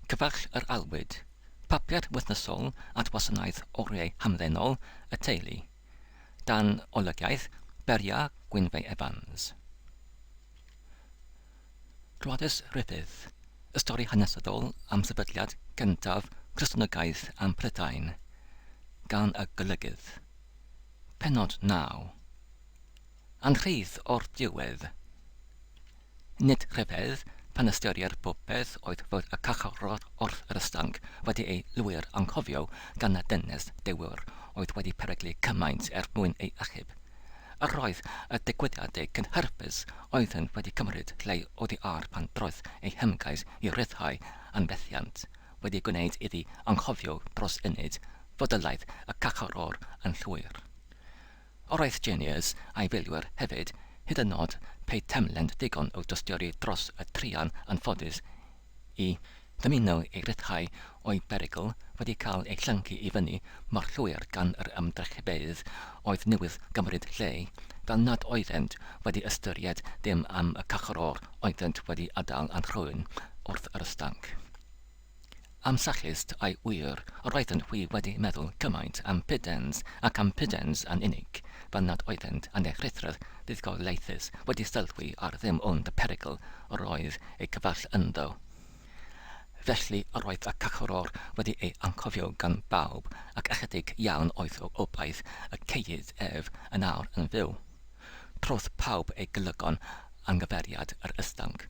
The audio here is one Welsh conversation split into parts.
Cyfarch yr Aelwyd, Papur wythnosol at Wasanaeth Oriau Hamddenol y Teulu, dan olygiaeth Beria Gwynfe Evans. Gwladys Ruffydd, Y stori hanesyddol am sefydliad gyntaf Cristnogaeth ym Mhrydain, gan y Golygydd. Pennod 9. Anrhyd o'r diwedd. Nid rhyfedd pan ystyrir popeth oedd fod y carcharor wrth yr ystranc wedi ei lwyr anghofio gan y dynes dewr oedd wedi peryglu cymaint er mwyn ei achub. Yr oedd y digwyddiadau cynhyrfus oeddent wedi cymryd lle oddi ar pan drodd ei hymgais i ryddhau yn fethiant wedi gwneud iddi anghofio dros ynyd fodolaeth y carcharor yn llwyr. Roedd Juniors a'i filwyr hefyd, hyd yn nod pe taem lent digon o dostiori dros y truan anffodus i ddymuno ei ryddhau o'i berygl, wedi cael ei llyncu i fyny mor llwyr gan yr ymdrechfeydd oedd newydd gymryd lle, fel nad oeddent wedi ystyried dim am y cachror oeddent wedi adael a'n rhwyn wrth yr ystanc. Am Sallust, ai wir, yr oeddent hwy wedi meddwl cymaint am Pudens ac am Pudens yn unig, fel nad oeddent yn eich rhuthroedd fuddugoliaethus wedi sylwi ar ddim ond y perygl yr oedd eu cyfaill ynddo? Felly, yr oedd y Cychwror wedi ei anghofio gan bawb, ac ychydig iawn oedd o obaith y ceiyd ef yn awr yn fyw. Trodd pawb eu golygon yng nghyfeiriad yr Ysdanc.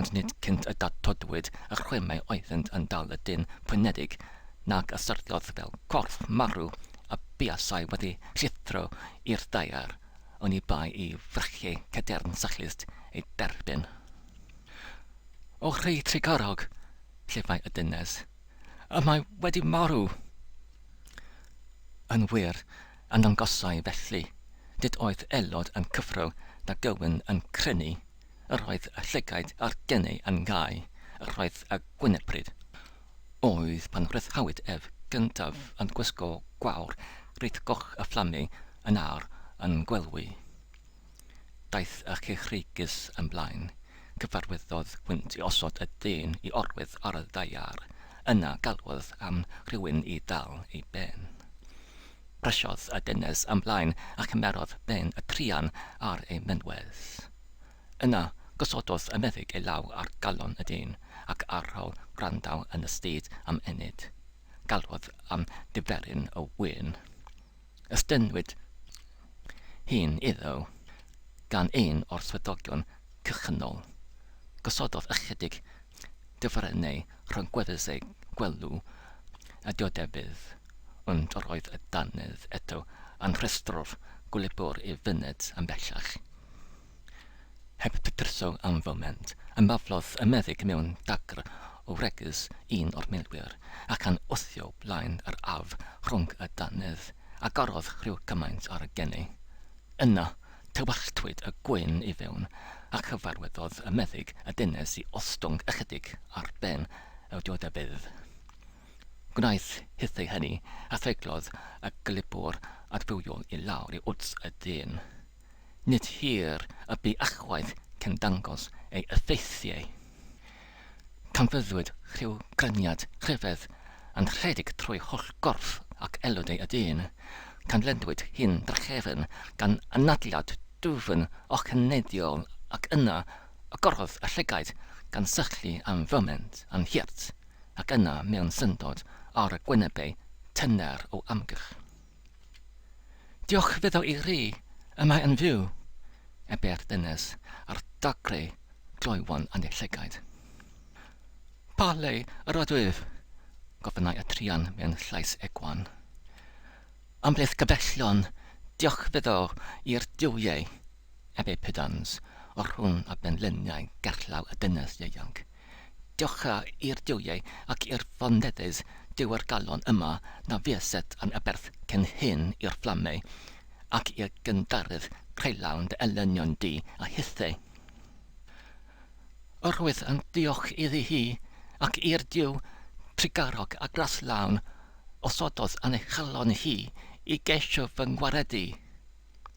ond nid cynt y datodwyd y chwimau oeddynt yn dal y dyn pwynedig, nac a syrthiodd fel corff marw a buasai wedi llithro i'r ddaear, oni bai i frychiau cadern sychlust ei derbyn. O rhy trugarog, llifai y dynes, y mae wedi marw! Yn wir, ymddangosai felly, nid oedd aelod yn cyffro na gywyn yn crynu, yr oedd y llygaid a'r genau yn gau, yr oedd y gwynepryd. Oedd pan rhyddhawyd ef gyntaf yn gwisgo gwawr reit goch a fflamu yn awr yn gwelwy. Daeth y cychreigus yn blaen, cyfarwyddodd hwynt i osod y dyn i orwedd ar y ddaear, yna galwodd am rhywun i ddal ei ben. Brysiodd y dynes ymlaen a chymerodd ben y truan ar ei fynwes. Yna, gosododd y meddyg ei law ar galon y dyn, ac ar ol gwrandau yn y stryd am ennyd, galwodd am ddiferyn o win. Estynnwyd hyn iddo gan un o'r swyddogion cychwynnol. Gosododd ychydig dyferynnau rhwng gweddill ei gwelw a diodefyd, ond yr oedd y dannedd eto yn rhestro'r gwlebwr i fyned yn bellach. Heb drytho am foment, ymaflodd y meddyg mewn dagr o wregys un o'r milwyr, ac yn wthio blaen yr af rhwng y dannedd, agorodd rhyw gymaint ar y geni, Yna, tywalltwyd y gwên i fewn, a chyfarwyddodd y meddyg y dynes i ostwng ychydig ar ben y diodefeydd. Gwnaeth hithau hynny, a threiglodd y glibwr adfywiol i lawr i wddf y dyn. Nid hir y bu ychwaith cyn dangos ei effeithiau. Canfyddwyd rhyw graniad rhyfedd yn rhedeg trwy holl gorff ac elodau y dyn, canledwyd hi'n drachefn gan anadliad dwfn oxyneiddiol ac yna agorodd y llygaid gan syllu am foment yn hurt ac yna mewn syndod ar y gwynebau tyner o amgylch. Diolch fyddo i ri y mae yn fyw e be'r dynes a'r dagre gloywon yn ei llygaid. Pa le yr ydwyf? gofynnai y truan mewn llais egwan. Ymhlith gyfellion, diolch fyddo i'r duwiau, Ebepydans, o rhwng y benliniau gerllaw y dynes ieuanc. Diolch i'r duwiau ac i'r foneddydd dyw'r galon yma na fueset yn aberth cyn hyn i'r fflamau ac i'r gynddaredd creulawn dy elynion di a hithau. Yr wyf yn diolch iddi hi, ac i'r Duw trugarog a graslawn osododd yn ei chalon hi i geisio fy ngwaredu.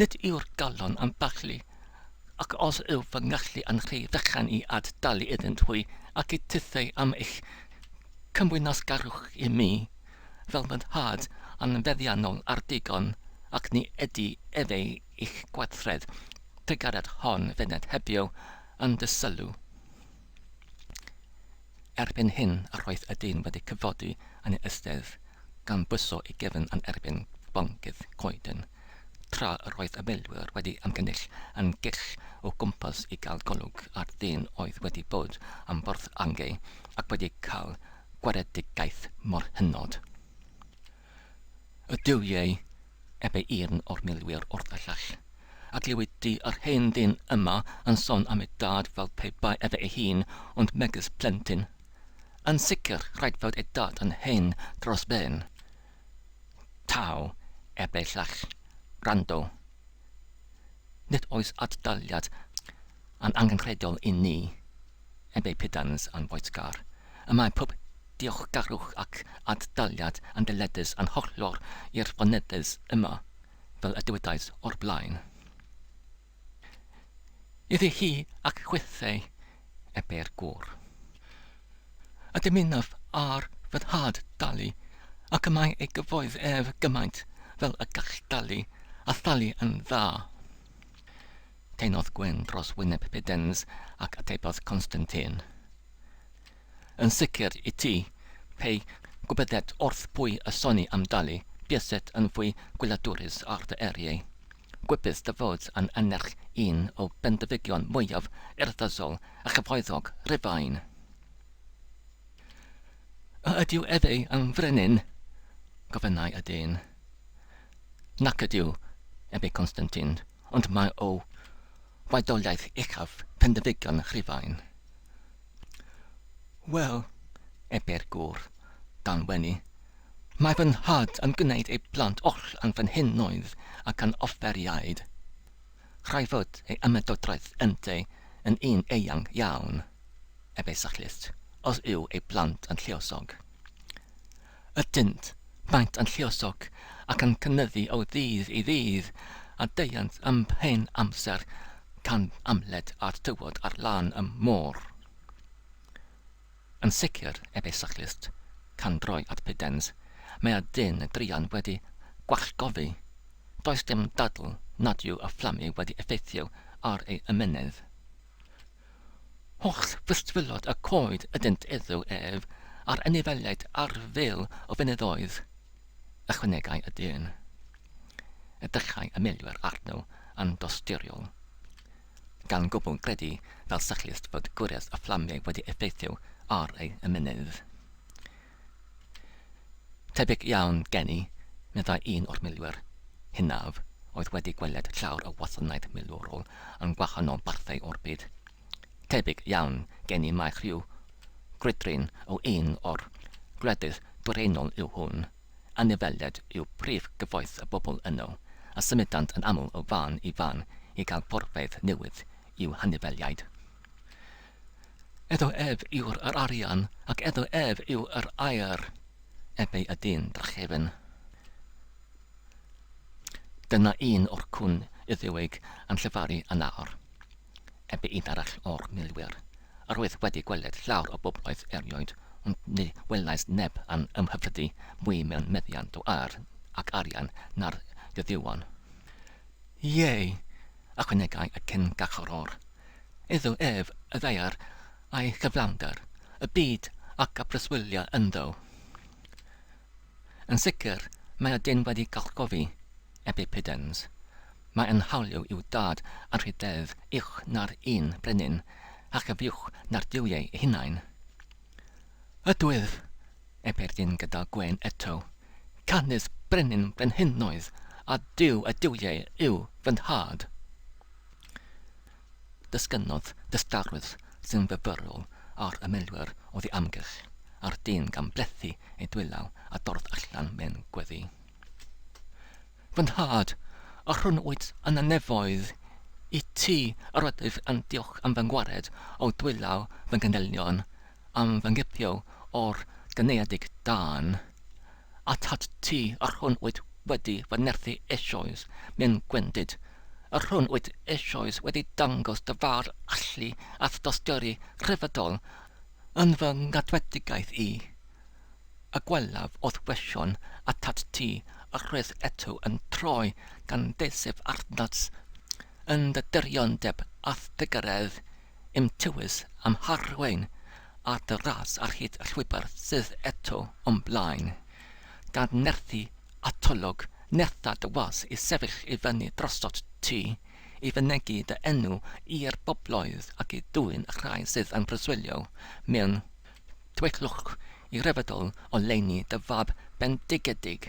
Nid yw'r galon am baglu, ac os yw fy ngallu yn rhy fechan i ad-dalu iddynt hwy ac i titheu am eich cymwynasgarwch i mi, fel fy nhad yn feddiannol ar ddigon, ac ni ydy efe i'ch gwaithred pregariad hon fyned hebio yn dy sylw. Erbyn hyn a roedd y dyn wedi cyfodi yn ei ystedd, gan bwyso ei gefn yn erbyn boncyff coeden, tra yr oedd y milwyr wedi ymgynnull yn gyll o gwmpas i gael golwg ar ddyn oedd wedi bod am fwrdd angau ac wedi cael gwaredigaeth mor hynod. Y duwiau ebe un o'r milwyr wrth y llall, a glywid di yr hen ddyn yma yn son am ei dad fel pe bai efe ei hun ond megys plentyn. Yn sicr, rhaid fod ei dad yn hen dros ben. Taw, ebe'r llall, gwrando. Nid oes ad-daliad yn angenrheidiol i ni. heb eu pidans a'n boetgar, y mae pob diolchgarwch ac ad-daliad yn dyledus a'n hollol i'r foneddydd yma, fel y dywedais o'r blaen. Iddi hi ac chwithei ebe'r gŵr. A dymunaf ar fy nhad dalu, ac y mae ei gyfoeth ef gymaint fel y gall dalu, a thalu yn dda. Tynnodd Gwyn dros wyneb Pudens ac atebodd Constantine. Yn sicr i ti, pe gwybyddet wrth bwy y soni am dalu, buaset yn fwy gwyladwrus ar dy eriau. Gwybydd dy fod yn annerch un o bendefigion mwyaf urddasol a chyfoethog Rufain. A ydyw efe yn frenin? gofynnai y dyn. Nac ydyw, ebe Constantine. ond mae o waedoliaeth uchaf Pendefigion Rhufain. Wel, ebe'r gŵr, dan wenu, mae fy nhad yn gwneud ei blant oll yn fy nhenoedd ac yn offeriaid. Rhaid fod ei ymedodraeth ynddo yn un eang iawn, ebe Sachlyst, os yw ei blant yn lluosog. Ydynt, maent yn lluosog ac yn cynyddu o ddydd i ddydd, a deuant am hen amser tan amled a'r tywod ar lan y môr. Yn sicr, ebe Cyclist, can droi at Pudens, mae a dyn druan wedi gwallgofi. Does dim dadl nad yw y fflamydd wedi effeithio ar ei ymennydd. Holl ddisgwyliad y coed ydynt iddo ef, a'r anifeiliaid ar fil o fynyddoedd, ychwanegai y dyn. Edrychai y milwyr arno yn dosturiol, gan gwbl gredu fel cyclist fod gwres y fflamiau wedi effeithio ar ei ymennydd. Tebyg iawn gen i, meddai un o'r milwyr hynaf oedd wedi gweled llawr y wasanaeth milwrol yn gwahanol barthau o'r byd. Tebyg iawn gen i mai rhyw grwydryn o un o'r gwledydd dwyraenol yw hwn. Anifeiliaid yw prif gyfoeth y bobl yno, a symudant yn aml o fan i fan i gael porfeydd newydd i'w hanifeiliaid. Edo ef yw'r yr arian, ac edo ef yw yr aer. Ef ei ydyn drachefn. Dyna un o'r cwn Iddewig yn llefaru yn nawr. Ef un arall o'r milwyr. Yr oedd wedi gweled llawer o bobloedd erioed, ond ni welais neb yn ymhyfrydu mwy mewn meddiant o aer ac arian na'r Iuddewan. Ie, ychwanegai y cyn-garcharor, iddo ef y ddaear a'i chyflawnder, y byd ac y preswyliau ynddo. Yn sicr, mae y dyn wedi garchogi Ebbe Piddens. Mae yn hawliw i'w dad a rhededd uwch na'r un brenin a chyfiwch na'r duwiau eu hunain. Ydwyf! Y perdyn gyda gwên eto. Canys brenin brenhinoedd a Duw y duwiau yw fy nhad. Dysgynnodd dystarwydd sy'n fyfyrol ar ymwelwyr oddi amgylch, a'r dyn gan blethu ei dwylaw a dorrodd allan mewn gweddi. Fy nhad, a rhwn wyt yn y nefoedd, i ti yr ydwyf yn diolch am fy ngwared o dwylaw fy nghenellion, am fy nghipio o'r gynaeadig dân. Atat ti a rhwn wyt wedi fy nerthu eisoes, myn gwendid, a rhwn wyt eisoes wedi dangos dy fawr allu at dosturi rhyfeddol yn fy ngadwedigaeth i. A gwelaf o'th wesion atat ti a rhwyth eto yn troi gan ddeiseb arnat, yn dy diriondeb a'th dy garedd, i'm tywys a'm harwain ar dy ras ar hyd y llwybr sydd eto o'm blaen. Gan nerthu atolwg nertha dy was i sefyll i fyny drostot ti, i fynegi dy enw i'r bobloedd ac i dwyn y rhai sydd yn preswylio mewn Twyllwch i rhyfeddol oleuni dy fab bendigedig.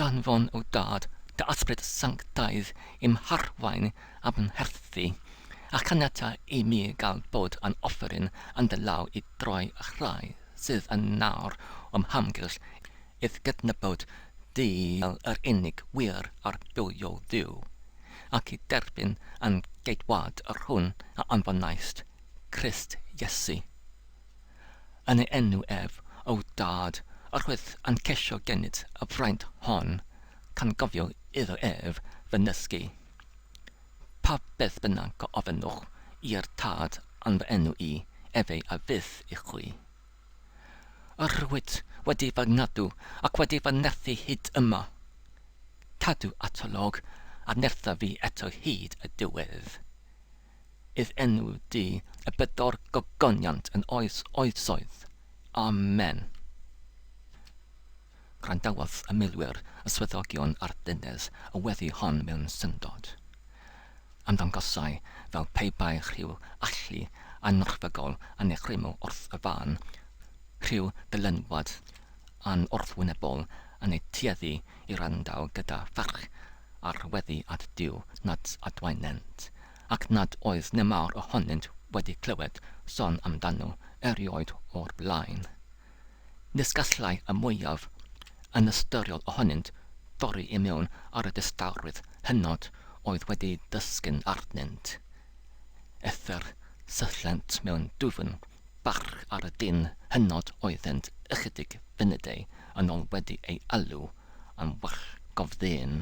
Danfon, O Dad, dy Ysbryd Sanctaidd i'm harwain a'm mherthi, a chaniata i mi gael bod yn offeryn yn dy law i droi y rhai sydd yn nawr o'm hamgylch i'th gydnabod di fel yr unig wir a'r bywiol Dduw, ac i derbyn yn geidwad yr hwn a anfonaist Crist Iesu. Yn ei enw ef, O Dad, yr wyt yn ceisio gennyt y fraint hon, cangofio iddo ef fy nysgu. Pa beth bynnag a ofynnwch i'r Tad yn fy enw i, efe a fydd i chwi. Yr wyt wedi fy ngadw ac wedi fy nerthu hyd yma. Cadw atolwg a nertha fi eto hyd y diwedd. I'r enw Duw y bedwar gogoniant yn oes oesoedd. Amen. Gwrandawodd y milwyr, y swyddogion a'r dynes y weddi hon mewn syndod. Ymddangosai fel pe bai rhyw allu annerfygol yn ei chrymu wrth y fân, rhyw ddylanwad yn wrthwynebol yn eu tueddu i wrando gyda pharch ar weddi at Duw nad adwaenent, ac nad oes nemawr ohonynt wedi clywed son amdano erioed o'r blaen. Nis gallai y mwyaf anystyriol ohonynt dorri i mewn ar y distawrwydd hynod oedd wedi dysgyn arnynt. Eithr syllent mewn dwfn Barch ar y dyn hynod oeddent ychydig funudau yn ol wedi ei alw yn wrthgofddyn.